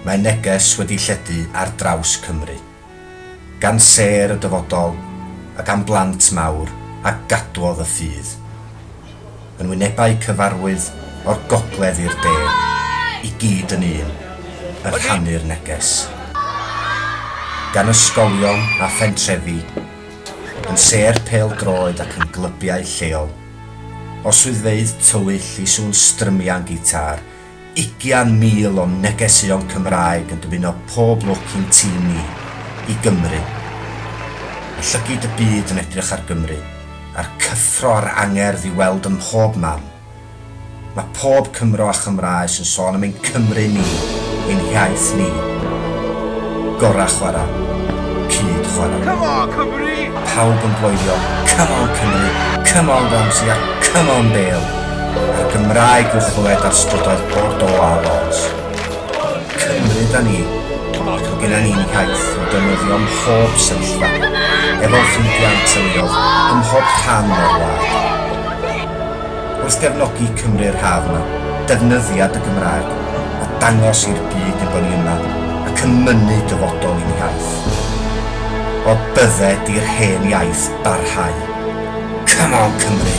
Mae neges wedi lledu ar draws Cymru, gan sêr y dyfodol a gan blant mawr a gadwodd y ffydd, yn wynebau cyfarwydd o'r gogledd i'r de, i gyd yn un, yn rhannu'r neges. Gan ysgolion a phentrefi, yn sêr pêl-droed ac yn glybiau lleol. O swyddfeydd tywyll i sŵn strymian gitâr, ugian mil o negeseuon Cymraeg yn dymuno pob lwc i'n tîm ni, i Gymru. Mae llygid y byd yn edrych ar Gymru, a'r cyffro a'r angerdd i'w weld ym mhob man. Mae pob Cymro a Chymraes yn sôn am ein Cymru ni, ein hiaith ni. Gorau chwara, cyd chwara. Come on Cymru! A pawb yn bloeddio Come on Cymru, come on Ramsey a come on Bale! A'r Gymraeg i'w chlywed ar strydoedd Bordeaux a Lens. Cymru 'da ni. Mae genna ni'n hiaith i'w defnyddio ym mhob sefyllfa, efo'n ffrindiau a'n teuluoedd, ym mhob rhan o'r wlad. wrth gefnogi Cymru'r haf yma, defnyddia dy Gymraeg a dangos i'r byd ein bod ni yma ac yn mynnu dyfodol i'n hiaith. O bydde di'r hen iaith barhau. Come on Cymru!